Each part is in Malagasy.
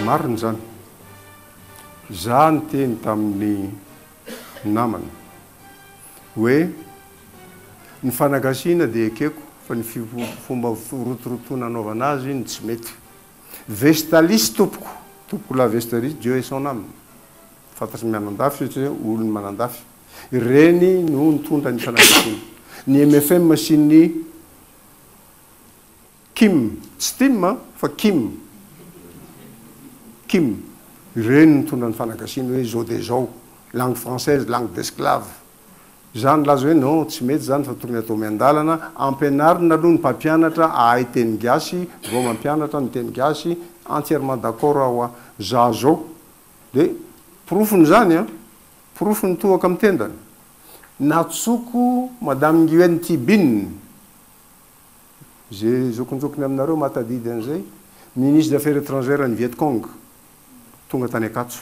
Marina izany. Izaho niteny tamin'ny namana hoe ny fanagasiana dia ekeko fa ny fomba rotorotoana anaovana azy no tsy mety. Vestalis tompoko, tompoko la vesterie Dieu et son âme, fantatry ny mianandafy io satria olon'ny manandafy, ireny no nitondra ny fanambadiana, ny mfm sy ny Kim, tsy Tim an, fa Kim, Kim, ireny no nitondra ny fanagasiana hoe izao dia izao, langue française, langue d'esclave. Za nilaza hoe non tsy mety zany fa tokony atao miandalana, ampianarina aloha ny mpampianatra ahay teny gasy vao mampianatra ny teny gasy, entièrement d'accord aho a! za zao de porofony zany a! porofo ny tohaka am tendany! natsoko madame Nguyen Thi Binh, ze zokinjokiny aminareo mahatadidy an'izay, ministre des affaires étrangères an'i Viet Cong tonga tany Ankatso.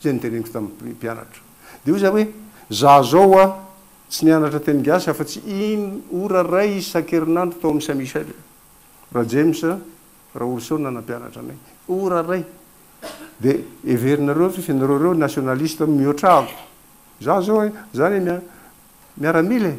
Izay noteneniko tamin'ny mpianatra. Dia hoy izaho hoe, Za zao hoa tsy nianatra teny gasy afa-tsy in ora iray isan-kerinandro tao amin'ny Saint Michel. Rajames Raoulison no nanampianatra anay. Ora iray. Dia heverinareo ve fa ianareo ireo nationaliste mihoatra ahy? Za zao e, za le miaramila e.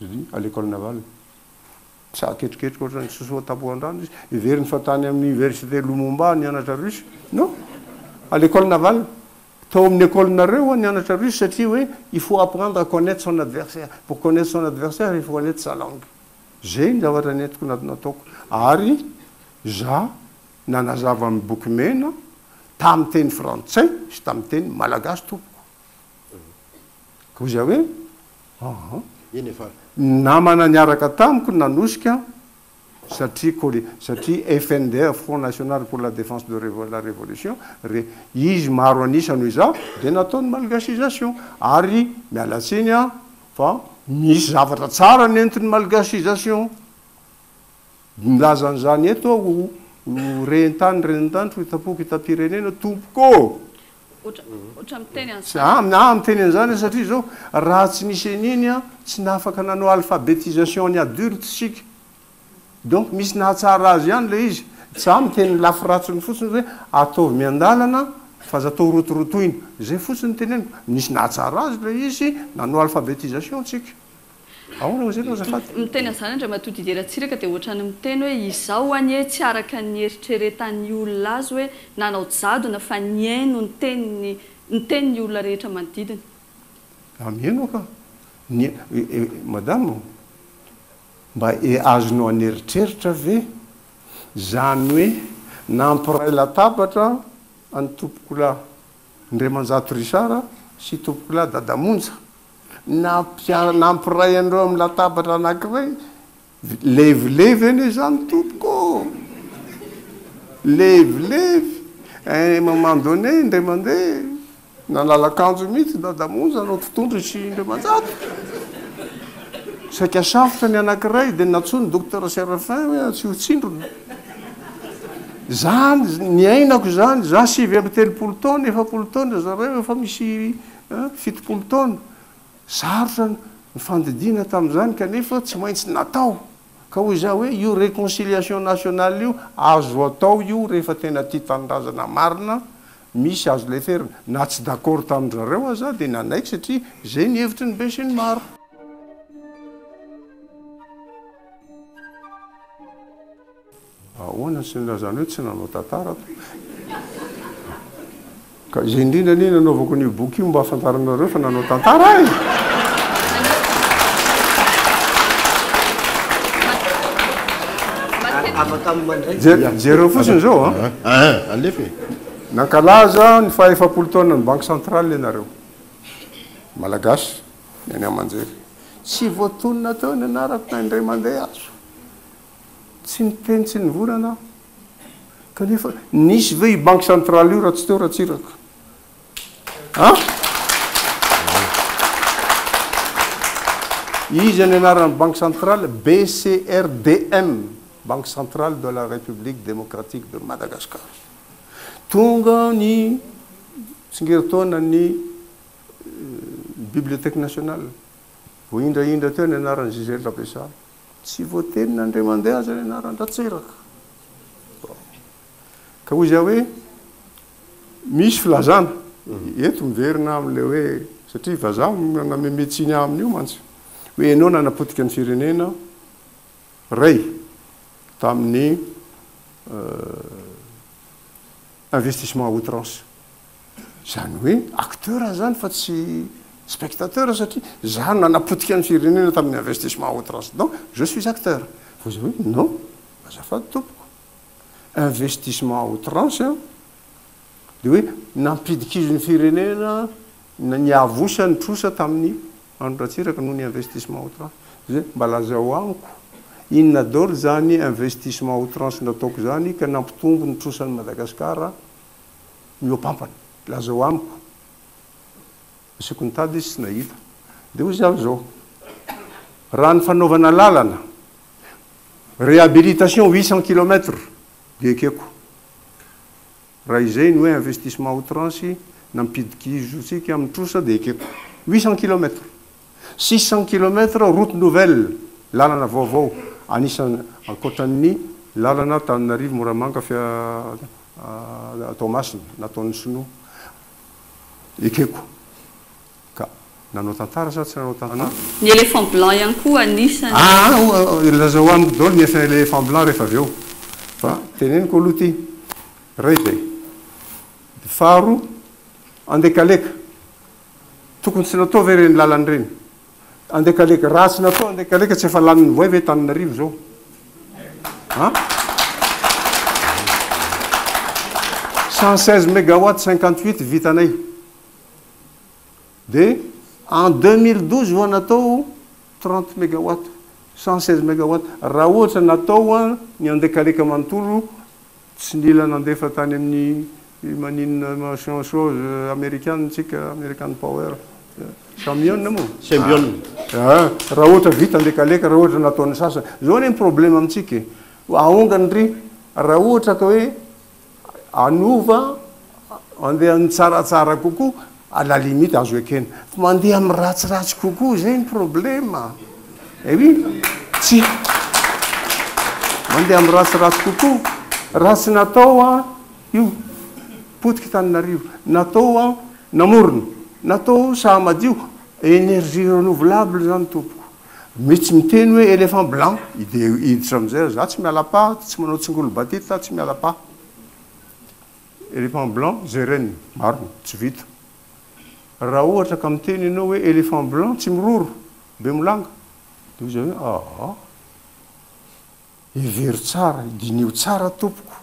Julie, à l'Ecole Navale. Tsa ketriketrika ohatran'ny sosoa tapohan-drano izy. Heveriny fa tany amin'ny Université Lumumba nianatra Russe. Non! À l'Ecole Navale. Tao amin'ny Ecole-nareo ho'a nianatra Russe satria hoe il faut apprendre à connaitre son adversaire. Pour connaitre son adversaire, il faut connaitre sa langue. Zay ny zavatra nentiko na nataoko. Ary za nanazava amin'ny boky mena tamin'ny teny frantsay sy tamin'ny teny malagasy tompoko. Koa za hoe Aha, eny efa namana niaraka tamiko ny nanosika satria kole, satria FNDR, Front National pour la Défense de la Révolution, re, izy maro an'isa noho izaho, dia natao ny malgasisation. Ary miala tsiny aho fa misy zavatra tsara nentin'ny malgasisation. Milaza an'izany eto aho ho, ho rentany, renintany, ho itam-poko, itam-pirenena, tompoko ô! Aah miteny an'izany satria izao raha tsy nisy an'iny an tsy nafaka nanao alphabetisation an'ny adulte isika. Donc misy nahatsara azy ihany ilay izy. Za miteny ny lafy ratsiny fotsiny hoe ataovy miandalana fa aza atao rotorotoina. Izay fotsiny no teneniko. Nisy nahatsara azy ilay izy, nanao alphabetisation isika. Ahoana hoy izany azafady? Miteny an'izany Andriamatoa Didier Ratsiraka dia ohatran'ny miteny hoe izaho anie tsy araka ny eritreretan'ny olona azy hoe nanao jadona fa nihaino ny teniny ny tenin'ny olona rehetra manodidina. Mba mihaino aho ka. Ny Madame ô, mba azonao an'eritreritra ve izany hoe nampiray latabatra an'i Tompokolahy Ndriamanjato Richard sy Tompokolahy Dadamonja? Nampiray an'ireo amin'ny latabatra anankiray, levilevy anie izany tompoko ô! Levilevy! À un moment donné, indray mandeha, nalalakanjo mihitsy Dada Monja anao Totohondry sy Indriamanjato. Saika safotra ny anankiray dia nantsoin'i Docteur Séraphin hoe tsy ho tsindrona. Izany, niainako izany, izaho sivy amby telopolo taona, efapolo taona zareo efa misy Fitopolo taona. Sarotra ny fandidiana tamin'izany kanefa tsy maintsy natao. Ka hoy izaho hoe io reconciliation nationale io azo atao io rehefa tena tia tanindrazana marina, misy azo leferina. Na tsy d'accord tamin-dry zareo aza aho dia nanaiky satria izay ny hevitry ny besinimaro. Ahoana sy inona izany hoe tsy nanao tantara ato? Ka izay indrindra anie nanaovako an'io boky io mba hahafantaranareo fa nanao tantara aho e! Jereo fotsiny izao a. Alefa e. Nankalaza ny faha efapolo taonan'ny Banque Centrale ianareo. Malagasy, ny any aman-jery. Tsy voatonona teo ny anarako na indray mandeha aza. Tsy niteny tsy nivorana aho. Kanefa nisy ve io banky centrale io raha tsy teo Ratsiraka? An? Iza ny anaran'ny banky centrale? BCRDM, Banque Centrale de la République Démocratique de Madagascar. Tonga ny tsingerintaonan'ny Bibliothèque Nationale. Vao indraindra teo ny anaran'i Gisèle Rabessart. Tsy voatenin' Andriamandeha aza ny anaran-dRatseraka. Ka hoy izy aho hoe, misy filazana. Eto miverina amin'ilay hoe, satria vazaha no nameme tsiny aminy io mantsy. Hoe ianao nanapotika ny firenena, Ray, tamin'ny investissement à outrance. Izany hoe acteur aho izany fa tsy spectateur satria izaho no nanapotika ny firenena tamin'ny investissement au transdent, je suis acteur. Fa izaho hoe non, azafady tompoko, investissement à outrance an, dia hoe nampidikizo ny firenena, niavosa ny trosa tamin'i Andry Ratsiraka noho ny investissement à outrance. Dia hoe mba lazao amiko, inona daholo izany investissement à outrance nataoko izany ka nampitombo ny trosan'i Madagasikara mihoapampana. Lazao amiko. Asiko nitady izy tsy nahita. Dia hoy izy avy izao, raha ny fanaovana lalana, réhabilitation huit cent kilomètres, dia ekeko. Raha izay ny hoe investissement outrance, nampidik'izotsika amin'ny trosa, dia ekeko. Huit cent kilomètres. Six cents kilomètres route nouvelle, lalana vaovao, anisan ankoatran ny lalana Antananarivo Moramanga Fia Toamasina nataon ny sinoa. Ekeko ka nanao tantara sa tsy nanao tantara. Ny éléphant blanc ihany koa anisan ny. Aa lazao amiko daholo ny asan éléphant blanc rehefa avy eo. Fa teneniko aloha ity iray dia. Faharo andekaleka Tokony tsy natao ve ireny lalana ireny? Andekaleka, raha tsy natao Andekaleka tsy efa lanin'ny voay ve Tananarivo izao? An? Cent seize megawatt cinquante huit vitanay. Dia en deux mille douze vao natao trente megawatt, cent seize megawatt. Raha ohatra natao ny Andekaleka manontolo Tsy nila nandefa tany amin'ny maninona machin chose amerikana tsika, American power, camion moa? Sembion. Ah, raha ohatra vita ny lekaleka, raha ohatra nataon'ny sasany. Zao anie ny problème amintsika e. Aongany ndry, raha ohatra ka hoe hanova Mandeha amin'ny tsaratsara kokoa, à la limite azo ekena. Fa mandeha amin'ny ratsiratsy kokoa, izay ny problema. Eh oui! Tsy Mandeha amin'ny ratsiratsy kokoa. Raha tsy natao an, io, potiky tanin'arivo. Natao an, namorona. Natao saha madio. Énergie renouvelable izany tompoko. Misy miteny hoe éléphant blanc, dia hiditra amin'izay aho. Za tsy miala paha, tsy manao tsingolobatita, tsy miala paha. Elephant blanc, jerena, marina, tsy vita. Raha ohatra ka miteny ianao hoe elephant blanc tsy miroro, be milanga, dia hoy izahay hoe aa, hevero tsara, diniho tsara tompoko,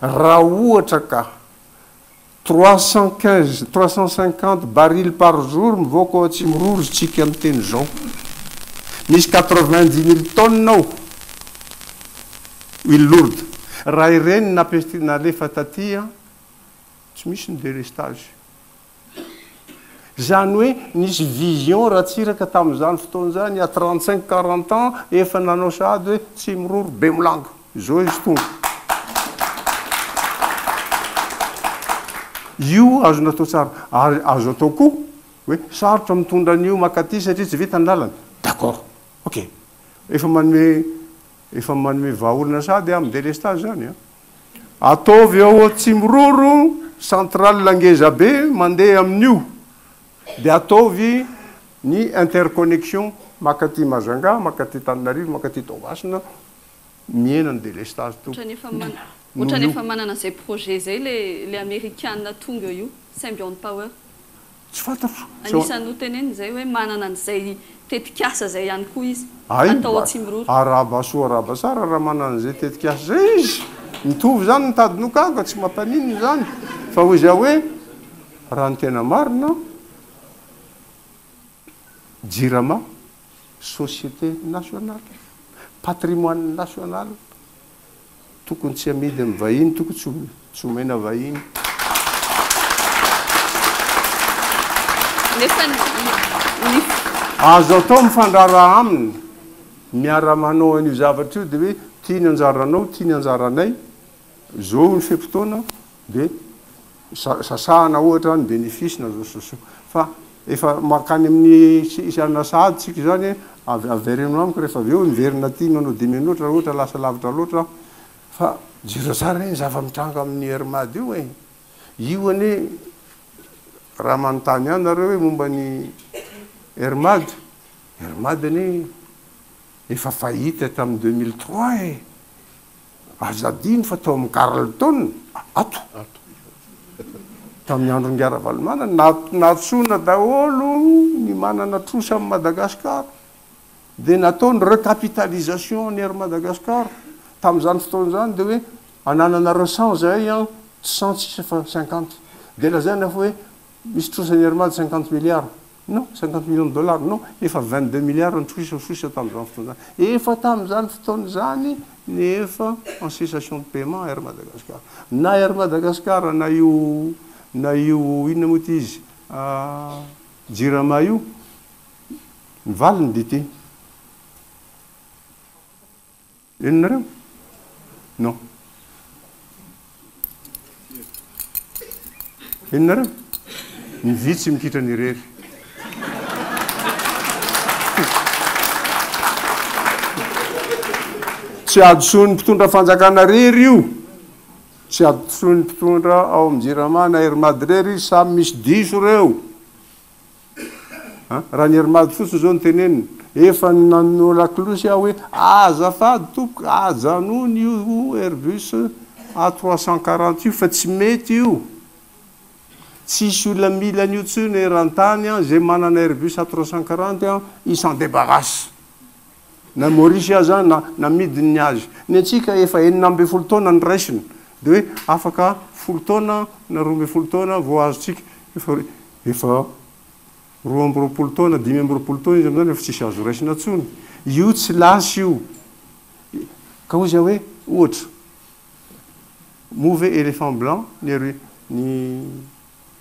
raha ohatra ka trois cent quinze, trois cent cinquante barils par jour mivoaka ao Atsimiroro ry tsika miteny izao, misy quatre vingt dix mille tonnes ao, Île Lourde. Raha ireny napetrina alefa taty an, tsy misy ny délestage. Izany hoe nisy vision Ratsiraka tamin'izany fotoana izany, il y a trente cinq, quarante ans, efa nanao sahady hoe Tsimiroro, Bemolanga. Izao izy tonga. Io azo natao tsara. Ary azo atao koa hoe sarotra mitondra an'io makaty satria tsy vita ny lalana. D'accord. Ok. Efa manome Efa manome vahaolana sahady amin delestage zany a. Ataovy eo Atsimiroro centrale ngeza be mandeha amin'io dia ataovy ny interconnexion makaty Majunga, makaty Tananarivo, makaty Toamasina, mihena ny delestage tompoko. Otrany efa manana, otrany efa manana zay projet zay le le amerikana tonga eo io, Symbion Power. Tsy fantatro. Anisany noteneniny izay hoe manana an'izay tetikasa izay ihany koa izy. Atao ao Tsimiroro. Arahaba soa arahaba tsara raha manana an'izay tetikasa izay izy. Mitovy izany ny tady noka ka tsy mampaninona izany. Fa hoy izaho hoe raha ny tena marina, Jirama, société nationale, patrimoine national, tokony tsy amidy amin'ny vahiny, tokony tsy tsy omena vahiny. Azo atao mifandraraha aminy, miara-manao an'io zavatra io dia hoe ity ny anjaranao, ity ny anjaranay, izao ny fe-potoana, dia sasahana ohatra ny bénéfice na réseaux sociaux fa efa mankany amin'ny hianona sahady tsika izany avy avereno amiko rehefa avy eo miverina aty manao démenotre raha ohatra lasa lavitra loatra aho fa jereo tsara anie ny zava-mitranga amin'ny RMAD io e io anie raha manontany ahy nareo hoe momba ny RMAD RMAD anie efa fahita tamin'ny 2003 e Aza adino fa tao amin'ny Carlton, ato, tamin'ny andron'Ingahy Ravalomanana, nantsoina daholo ny manana trosa amin'i Madagascar, dia natao ny recapitalisation an'i Air Madagascar. Tamin'izany fotoana izany dia hoe anananareo cent zahay an, tsy cent sisa fa cinquante. Dia lazaina fa hoe misy trosan'i Air Mad cinquante milliards. Non, cinquante millions de dollars non, efa vingt deux milliards nitroisatroisa tamin'izany fotoana izany. Efa tamin'izany fotoana izany ny efa en cessation de paiement Air Madagascar. Na Air Madagascar na io na io inona moa ity izy Jirama io, ny valiny dia ity. Henonareo? Non. Henonareo? Ny vitsy mikitra ny irery. Tsy hadisoan'ny mpitondra fanjakana irery io. Tsy hadisoan'ny mpitondra ao amin'ny Jirama na Air Mad irery izy, samy misy diso ireo. An, raha ny Herimady fotsiny izao no tenenina, efa nanao lakolosy aho hoe, azafady tompoko, ajanony io Airbus A trois cent quarante io fa tsy mety io. Tsisy olona mila an'io intsony eran-tany an, izay manana Airbus A trois cent quarante an, il s'en débarrasse. na Maurice aza na namidiny ny azy, ny antsika efa enina ambin'ny folo taona no raisina dia hoe afaka folo taona na roa ambin'ny folo taona vao azontsika, efa efa roa amby roapolo taona, dimy amby roapolo taona izy amin'izany efa tsisy azo raisina intsony, io tsy lasa io, ka hoy za hoe ohatra, moa ve elephant blanc ny ny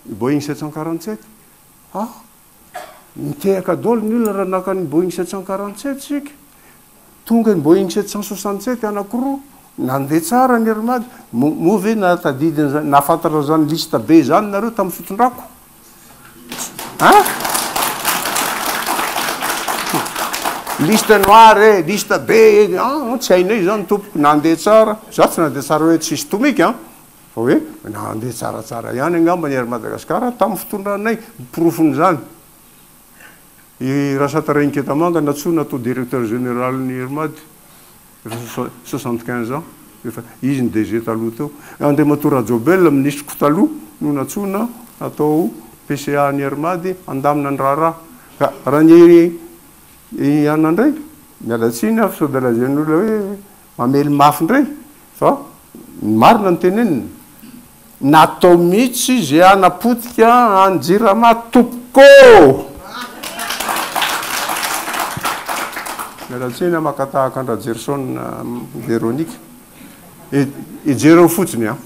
Boeing sept cent quarante sept? ah! Nitehaka daholo ny olona raha naka ny Boeing sept cent quarante sept isika. Tonga ny Boeing sept cent soixante sept anankiroa, nandeha tsara ny Air Mad. Moa ve nahatadidy an'izany, nahafantatra an'izany liste be izany nareo tamin'ny fitondrako? An? Liste noir e, liste be e, an, tsy hainay izany tompoko, nandeha tsara. Izaho tsy nandeha tsara hoe tsisy tomika an, Fa hoe nandeha tsaratsara ihany angamba ny Air Madagascar tamin'ny fitondranay, porofon'izany i Rasata Rainiketamanga nantsoina atao Directeur Général ny Air Mad efa soixante quinze ans, efa izy ny DG taloha teo. Andriamatoa Rajobel, Minisitro-ko taloha no nantsoina atao PCA ny Air Mad handamina ny raharaha. Ka raha ny anona indray, miala tsiny aho fa sao dia lazain'olona hoe, Mamely mafy indray fa marina ny teneniny. Natao mihitsy izy hanapotika an'i Jirama tompoko ô! Miala tsiny aho maka tahaka an-dRajerison Véronique e! Jereo fotsiny an!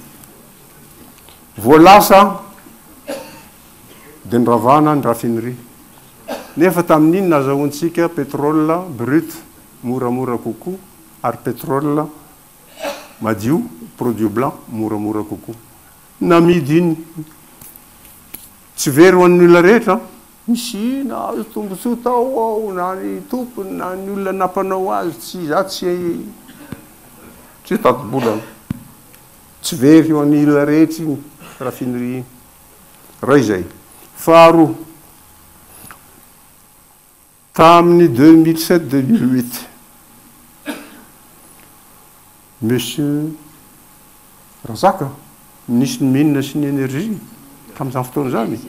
Vao lasa dia niravana ny raffinerie. Nefa tamin'iny nazahoantsika pétrole brut moramora kokoa ary petrol madio produit blanc moramora kokoa namidy iny tsy very ho an'ny olona rehetra misy nahazo tombotsoa tao ao na ny tompony na ny olona nampanao azy tsy za tsy tsy tati-bola tsy very ho an'ny olona rehetra iny raffinerie iny ray zay faharoa Tamin'ny deux mille sept, deux mille huit, Monsieur Razaka, Minisitry ny Mines sy ny Énergie tamin'izany fotoana izany,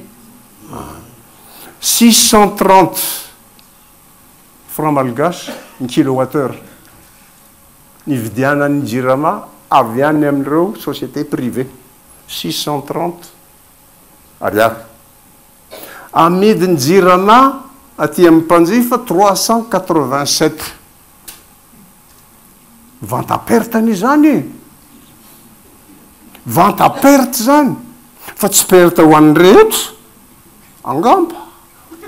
six cent trente francs malgaches ny kilowattheure nividianan'ny Jirama avy any amin'ireo sociétés privées, six cent trente. Ariary. Amidin'ny Jirama aty amin'ny mpanjifa trois cent quatre-vingt-sept. Vente à perte anie izany e! Vente à perte izany fa tsy perte ho an'ny rehetra angamba.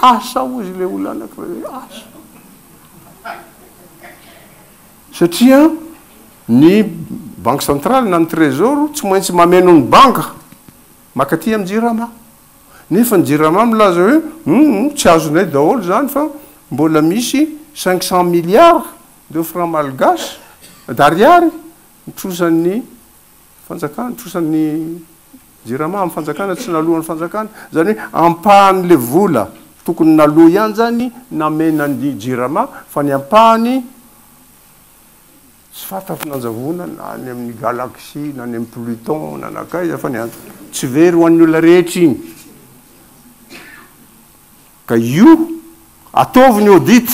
Asa hozy ilay olona anankiray hoe asa. Satria ny banky centrale na ny trésor tsy maintsy mameno ny banga makaty amin'ny jirama. Nefa ny jirama milaza hoe humm tsy azonay daholo izany fa mbola misy cinq cent milliards de francs malgaches, d'ariary, nitrosan'ny Fanjakana, trosan'ny Jirama amin'ny fanjakana, tsy naloan'ny fanjakana, izany hoe ampahan'ilay vola tokony naloa ihany izany namena an'i Jirama fa ny ampahany tsy fantatra ny nanjavona na any amin'ny galaxie na any amin'ny Pluton na nankaiza fa ny tsy very ho an'ny olona rehetra iny. Ka io, ataovy ny audit!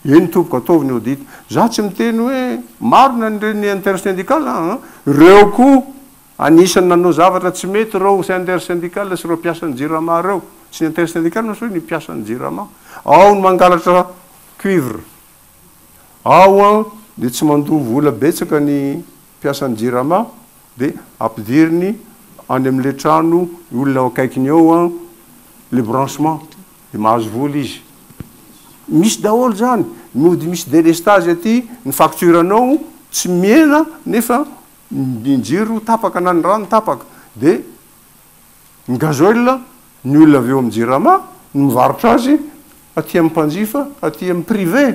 Eny tompoko, ataovy ny audit! Za tsy miteny hoe marina ny ren'ny intersyndical an! Reo koa anisany nanao zavatra tsy mety reo intersyndicale sy reo mpiasan'ny jirama reo! Tsy ny intersyndical no soa, ny mpiasan'ny jirama! Ao ny mangalatra cuivre! Ao an dia tsy mandoa vola betsaka ny mpiasan'ny jirama dia ampidiriny any amin'ilay trano ny olona ao akaikiny ao an ilay branchement dia mahazo vola izy. Misy daholo izany, mody misy delestage aty ny facture anao tsy mihena nefa ny jiro tapaka na ny rano tapaka dia. Ny gasoil, ny olona avy eo amin'ny jirama no mivarotra azy aty amin'ny mpanjifa, aty amin'ny privé.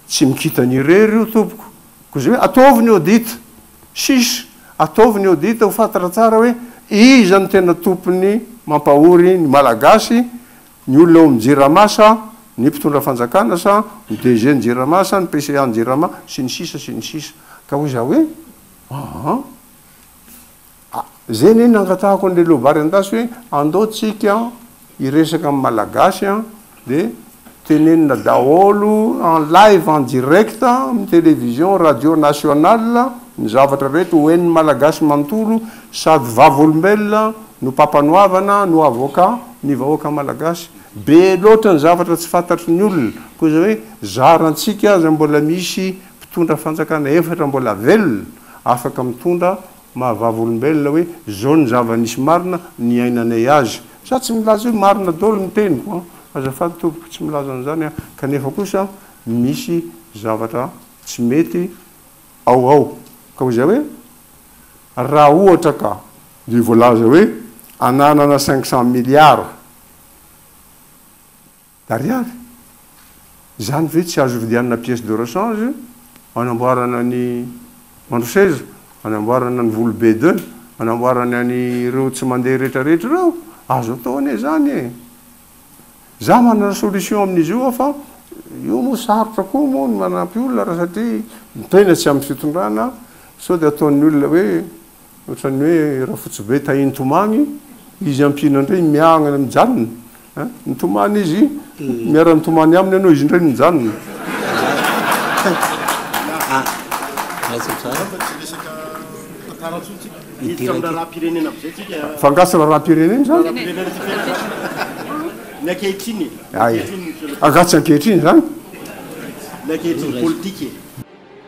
Tsy mikitany irery io tompoko. Koa izay hoe ataovy ny audit. Chiche, ataovy ny audit ho fantatra tsara hoe iza no tena tompony mampahory ny Malagasy, ny olona ao amin'ny jirama sa ny mpitondra fanjakana sa ny DG ny jirama sa ny PCA ny jirama sy ny sisa sy ny sisa. Ka hoy za hoe, aah. A, zay anie nangatahako an'i Lelovary Andasy hoe andao tsika hiresaka amin'ny Malagasy an, de tenenina daholo en live en direct amin'ny television radio nationale ny zavatra rehetra ho henon'ny Malagasy manontolo sady vavolombelona no mpampanoavana no avocat ny vahoaka Malagasy. Be loatra ny zavatra tsy fantatry ny olona, koa izay hoe zarantsika aza mbola misy mpitondra fanjakana efatra mbola velona afaka mitondra Mahavava olombelona hoe zao ny zava nisy marina niainanay azy. Za tsy milaza hoe marina daholo ny teniko an! Azafady tompoko tsy milaza an'izany aho kanefa kosa misy zavatra tsy mety ao ao ka ho izay hoe raha ohatra ka dia voalaza hoe ananana cinq cent milliards Ariary? Izany ve tsy azo vidianana pièce de rechange anamboarana ny andro seza, anamboarana ny volo be de, anamboarana ny ireo tsy mandeha rehetra rehetra ireo? Azo atao anie izany e! Za manana solution amin'izy io aho fa io moa sarotra koa moa ny manampy olona raha satria ny tena tsy amin'ny fitondrana sao dia ataon'ny olona hoe Ohatran'ny hoe Rafotsibe tahin'i Tomany, izy ampiana indray miahangana mijanona a! Ny Tomany izy miara-mitomany aminy ianao, izy indray mijanona. Miditra amin'ny raharaham-pirenena avy izay tsika a! Fa angaha tsy raharaham-pirenena izany? Raharaham-pirenena tsika eto. Ny ankehitriny e! Ny ankehitriny Monsieur le Président. Angaha tsy ankehitriny izany? Ny ankehitriny politika e!